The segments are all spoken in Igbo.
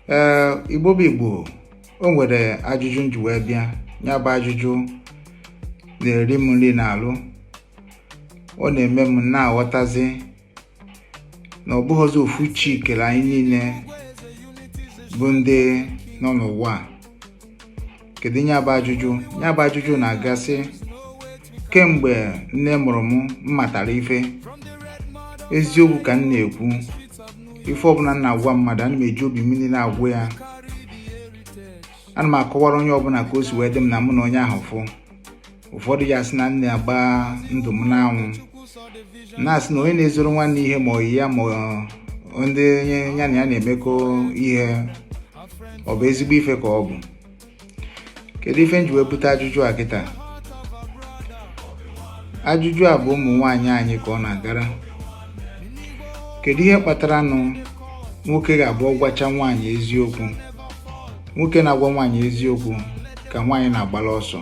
ee igbo bụ igbo o nwere ajụjụ nji wee bịa ya bụ ajụjụ na-eri m nri n'alụ ọ na-eme m na-aghọtazi na ọ bụghịzi ofu chi kere anyị niile bụ ndị nọ n'ụwa a kedu ya bụ ajụjụ ya bụ ajụjụ na-aga sị kemgbe nne mụrụ m m matara ife eziokwu ka m na-ekwu ife ọbụla m na-agwa mmadụ ana m eji obi m niile agwa ya ana m akọwara onye ọbụla ka o si wee dị m na mụ na onye ahụ fụ ụfọdụ ya sị na m na-agba ndụ m n'anwụ na-asị na onye na-ezoro nwanne ihe ma ọyị ya ma ndị ya na ya na-emekọ ihe ọ bụ ezigbo ife ka ọ bụ kedu ife nji wee bute ajụjụ a kịta ajụjụ a bụ ụmụ nwaanyị anyị ka ọ na-agara kedu ihe kpatara nụ nwoke ga-abụ ọ gwacha nwaanyị eziokwu nwoke na-agwa nwaanyị eziokwu ka nwaanyị na-agbala ọsọ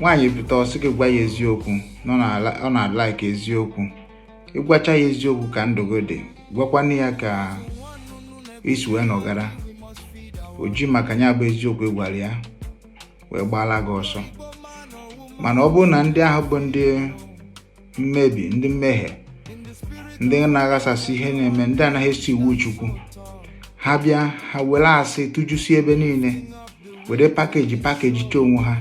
nwaanyị pụta ọ sị gị gwa ya eziokwu na ọ na-alaiki eziokwu ị gwacha ya eziokwu ka ndụ gị dị gwakwana ya ka i si wee nọgara o ji maka ya bụ eziokwu ị gwara ya wee gbaala gị ọsọ mana ọ bụrụ na ndị ahụ bụ ndị mmebi ndị mmehie ndị na-aghasasị ihe na-eme ndị anaghị eso iwu chukwu ha bịa ha were asị tụjusi ebe niile were pakeji pakejichaa onwe ha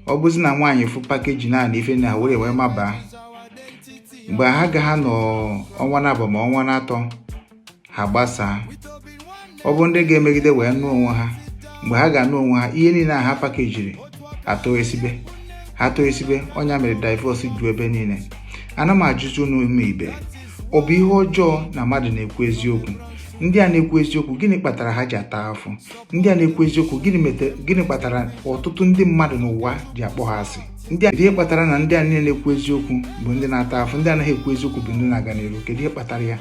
ọ bụzi na nwaanyị fụ pakeji naanị ife na were wee mabaa mgbe ha ga-anọ ọnwa n'abụọ ma ọnwa n'atọ ha gbasaa ọ bụrụ ndị ga-emegide wee nụọ onwe ha mgbe ha ga-anụ onwe ha ihe niile a ha pakejiri atọsịbe ha tọsịbe ọ nya mere divorce ju ebe niile ana m ajụzi unu ụmụ ibe ọ bụ ihe ọjọọ na mmadụ na-ekwu eziokwu ndị a na-ekwu eziokwu gịnị kpatara ha ji ata afụfụ ndị a na-ekwu eziokwu gịnị kpatara ọtụtụ ndị mmadụ n'ụwa ji akpọ ha asị kedu ihe kpatara na ndị a niile na-ekwu eziokwu bụ ndị na-ata afụfụ ndị anaghị ekwu eziokwu bụ ndị na-aga n'iru kedu ihe kpatara ya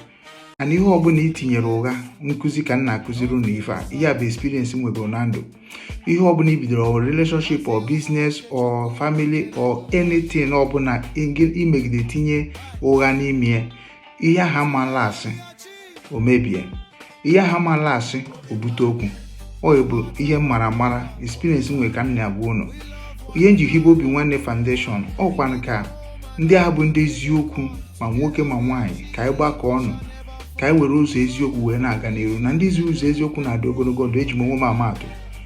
and ihe ọbụla i tinyere ụgha nkụzi ka m na-akụziri unu ife a ihe a bụ experience m nwegoro na ndụ ihe ọbụla i bidoro or relationship or business or family or anything ọbụla i megide tinye ụgha n'ime ya ihe ahụ ama last o mebie ihe ahụ ama last o bute okwu ọ bụ ihe m mara mara experience m nwere ka m na-agwa unu ihe nji hibe obi nwanne foundation ọ kwa ka ndị ahụ bụ ndị eziokwu ma nwoke ma nwaanyị ka anyị gbakọ ọnụ ka anyị were ụzọ eziokwu wee na-aga n'iru na ndị si ụzọ eziokwu na-adị ogologo ndụ eji m onwe m ama atụ